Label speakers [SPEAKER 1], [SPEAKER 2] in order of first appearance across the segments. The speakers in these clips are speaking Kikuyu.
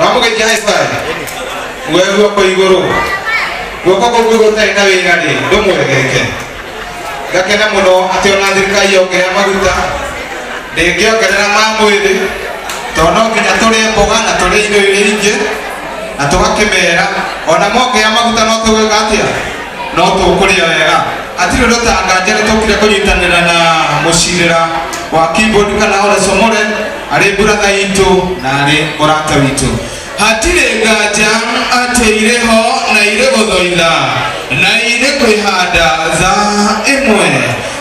[SPEAKER 1] wamũgaikia high five we guoko igũrũ guoko kũu kũu gũtarĩ na wĩra rĩ ndũmwegeke ngakena mũno atĩ ona thirikari yongerera maguta ndĩngĩongerera ma mwĩrĩ tondũ no nginya tũrĩe mboga na tũrĩe indo iria ingĩ na tũgakĩmera ona mongea maguta no tũgwĩka atĩa no tũkũrĩa wega hatirĩ ũndũ tanganja nĩ tũkire kũnyitanĩra na mũcirĩra wa keyboard kana ole somore arĩ brother itũ na arĩ mũrata witũ hatirĩ nganja atĩ irĩ ho na irĩ gũthoitha na irĩ kwĩhanda tha ĩmwe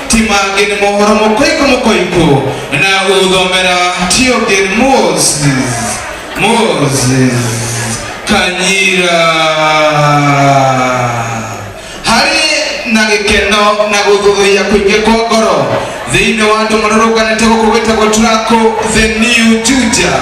[SPEAKER 1] ti mangĩ nĩ mohoro mũkoikũ mũkoikũ na gũthomera ti ũngĩ nĩ Moses Moses Kanyira Harĩ na gĩkeno na gũthũthũia kũingĩ kwa ngoro thĩinĩ wa andũ marũrũnganĩte gũkũ gwĩtagwo Turaku the New Juja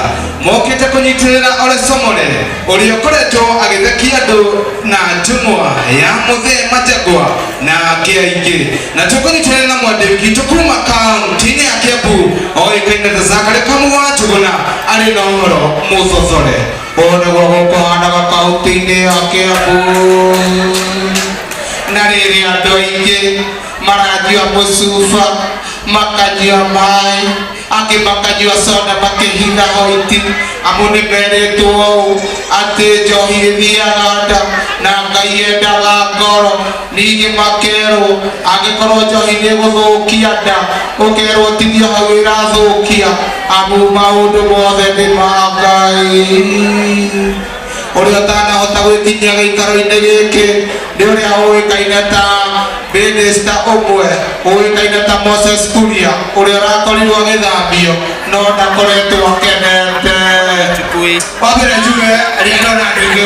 [SPEAKER 1] mokĩte kũnyitĩrĩra Ole Somore ũrĩa ũkoretwo agĩthekia andũ na njũng'wa ya mũthee Majagwa na angĩ aingĩ na tũkũnyitĩrĩra na mwandĩki witũ kuma kaunti-inĩ ya Kiambu oĩkaine ta Zachary Kamũgwa Njũgũna arĩ na ũhoro mũthothore. Ũũ nĩguo gũkũhaanaga kaũntĩ-inĩ ya Kiambu. Na rĩrĩ andũ aingĩ maranyua mũcuba, makanyua maĩ, angĩ makanyua soda makĩhitha white, amu nĩ merĩtwo ũũ atĩ njohi ĩthiaga nda na Ngai endaga ngoro. Ningĩ makerwo angĩkorwo njohi nĩ ĩgũthũkia nda, ũkerwo tithio hau ĩrathũkia, amu maũndũ mothe nĩ ma Ngai. Ũrĩa ũtanahota gwĩkinyia gĩikaro-inĩ gĩkĩ nĩ ũrĩa ũĩkaine ta mĩnĩsta ũmwe ũĩkaine ta Moses Kuria, ũrĩa ũrakorirwo agĩthambio no ndakoretwo akenete. Wa mbere njuge rĩrĩa ndona andũ aingĩ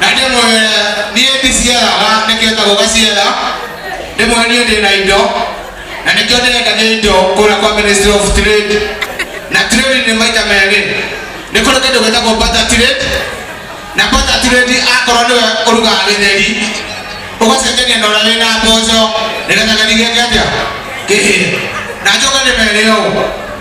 [SPEAKER 1] na ndĩmwĩre niĩ ndiciaraga nĩkĩo njagwo gaciara ndĩmwĩre niĩ ndĩ na indo na nĩkĩo ndĩrendagia indo kũrĩa kwa ministry of trade na trade nĩ maita merĩ nĩ kũrĩ kĩndũ gĩtagwo butter trade na butter trade akorwo nĩwe ũrugaga gĩtheri ũgacenjania na ũrĩa wĩna mboco nĩgetha gĩtheri gĩake atĩa kĩhĩe na njoke ndĩmere ũũ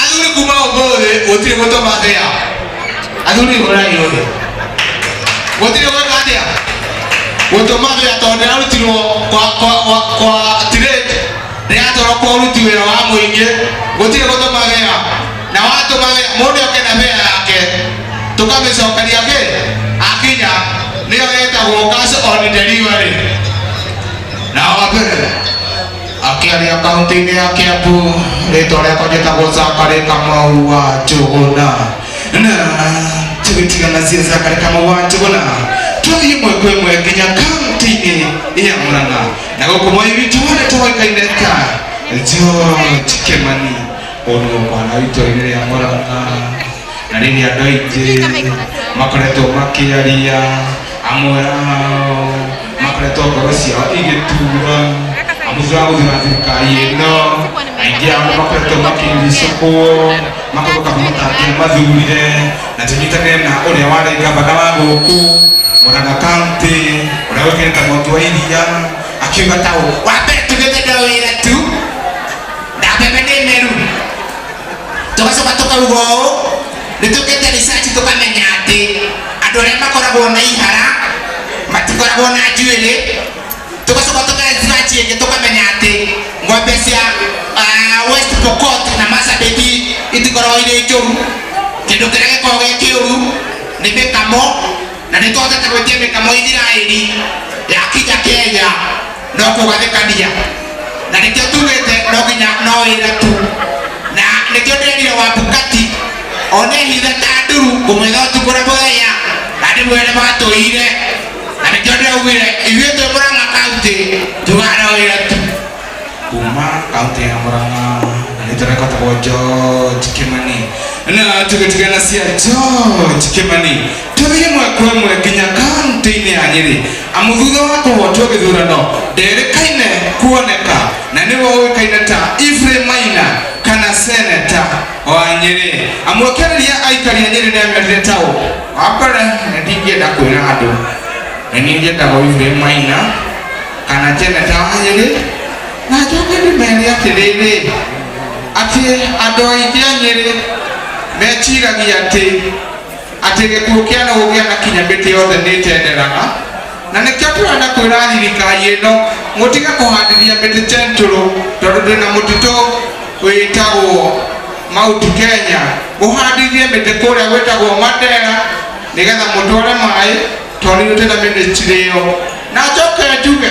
[SPEAKER 1] Athuri kuma ũmũthĩ gũtirĩ gũtoma thĩa. Athuri hũrai ũthĩ. Gũtirĩ gwĩka atĩa? Gũtoma thĩa tondũ ndĩrarutirwo kwa kwa kwa kwa tirĩti. Ndĩratwarwo kwa ũruti wĩra wa mũingĩ. Gũtirĩ gũtoma thĩa. Na watũma thĩa mũndũ oke na thĩa yake. Tũkamĩcokeria kĩ? Akinya nĩyo ĩtagwo cash on delivery. Na wa mbere Akĩaria kaũntĩ-inĩ ya Kiambu, rĩtwa rĩakwa njĩtagwo Zachary Kamau wa Njũgũna. Na tũgĩtigana cia Zachary Kamau wa Njũgũna, tũthiĩ ĩmwe kwa ĩmwe nginya kaũntĩ-inĩ ya Mũrang'a. Na gũkũ Mwai witũ harĩa tũĩkaine ta George Kĩmani. Ũyũ nĩguo mwana witũ rĩrĩa Mũrang'a. na nini andå aingä makoretwo makiaria amwe ao makoretwo ngoro ciao igĩtura amu thutha wa gũthura thirikari ĩno aingĩ ao makoretwo makĩricũkwo makogoka matangia mathurire na tũnyitane na ũrĩa warĩ ngavana wa gũkũ mũranga kaunti ũrĩa ũĩkaine ta mũtu wa iria akiuga ta ũũ wambe tũgĩte ndo wĩra tu na mbembe nĩ meru tũgacoka tũkauga ũũ nĩ tũkĩte research tũkamenya atĩ andũ arĩa makoragwo na ihara matikoragwo na njuĩrĩ tũgacoka tũka research ĩngĩ tũkamenya atĩ ng'ombe cia ah, West Pokot na Marsabit itikoragwo irĩ njũru kĩndũ kĩrĩa gĩkoragwo gĩ kĩũru nĩ mĩkamo na nĩ twahotete gwĩtia mĩkamo Isiraeli yakinya Kenya no kugathikania na nikio tugite no nginya no wira tu na nikio ndirire wa bukati one hitha ta nduru ngumwitha utuku na muthenya na ndimwire matuyire na nikio ndiraugire ithuĩ twĩ murang'a kaunti tugaga no wira tu kuma kaunti ya murang'a na nĩtũrekotagwo george kimani na tũgĩtigana cia george kimani Tũthiĩ ĩmwe kwa ĩmwe nginya kaunti-inĩ ya Nyĩrĩ amu thutha wa kũhotwo gĩthurano nderĩkaine kuoneka na nĩwe ũĩkaine ta Ephraim Maina kana seneta wa Nyĩrĩ amu akĩarĩria aikari a Nyĩrĩ nĩamerire ta ũũ. Wa mbere nĩ ndingĩenda kwĩra andũ nĩ niĩ njĩtagwo Ephraim Maina kana njeneta wa Nyĩrĩ na njoke ndĩmere atĩrĩrĩ atĩ andũ aingĩ a Nyĩrĩ meciragia atĩ atĩ gĩkuũ kĩa nũgũ gĩanakinya mĩtĩ yothe nĩtenderaga na nĩkĩo tũrenda kwĩra thirikari ĩno mũtige kũhandithia mĩtĩ tentũrũ tondũ twĩna mũtitũ wĩtagwo mauti kenya mũhandithie mĩtĩ kũrĩa gwĩtagwo mandera nĩgetha mũtware maĩ tondũ ithuĩ twĩna mĩnĩstiri ĩyo na njoke njuge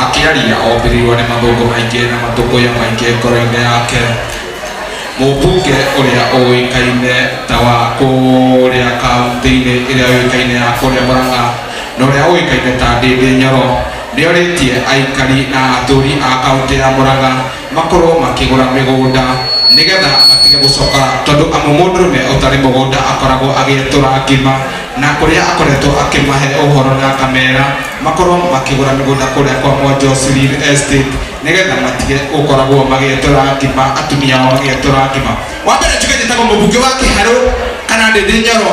[SPEAKER 1] Akĩaria ombĩrirwo nĩ mathũngũ maingĩ na matũkũya maingĩ ngoro-inĩ yake. Mũmbunge ũrĩa ũĩkaine ta wa kũrĩa kauntĩ-inĩ ĩrĩa yũĩkaine ya kũrĩa Mũrang'a na ũrĩa ũĩkaine ta Ndĩndĩ Nyoro nĩorĩtie aikari na atũri a kauntĩ ya Mũrang'a makorwo makĩgũra mĩgũnda nĩgetha matige gũcoka tondũ amu mũndũrũme ũtarĩ mũgũnda akoragwo agĩetũra ngima na kũrĩa akoretwo akĩmahe ũhoro na akamera makorwo makĩgũra mĩgũnda kũrĩa kwa Mwonjosu Real Estate nĩgetha matige gũkoragwo magĩetũra ngima atumia ao magĩetũra ngima. Wa mbere njuge njĩtagwo mũbunge wa Kĩharũ kana ndĩndĩ Nyoro.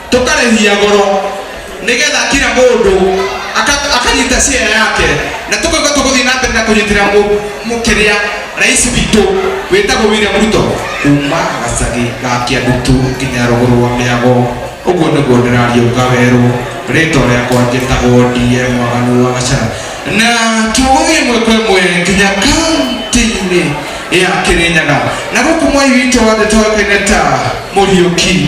[SPEAKER 1] tũkarĩhia goro nĩgetha kira mũndũ aka- akanyita share yake na tũkauga tũgũthiĩ na mbere na kũnyitĩra mũ- mũkĩrĩa rais witũ wĩtagwo William Ruto kuma gacagi ga Kĩandutu nginya rũgũrũ rwa mĩago ũguo nĩguo ndĩraria uga werũ rĩtwa rĩakwa njĩtagwo ndiye mwaganu wa gacara na tũgũthiĩ ĩmwe kwa ĩmwe nginya kaunti-inĩ ya Kĩrĩnyaga na gũkũ mwai witũ wa thĩ tũĩkaine ta Mũriũki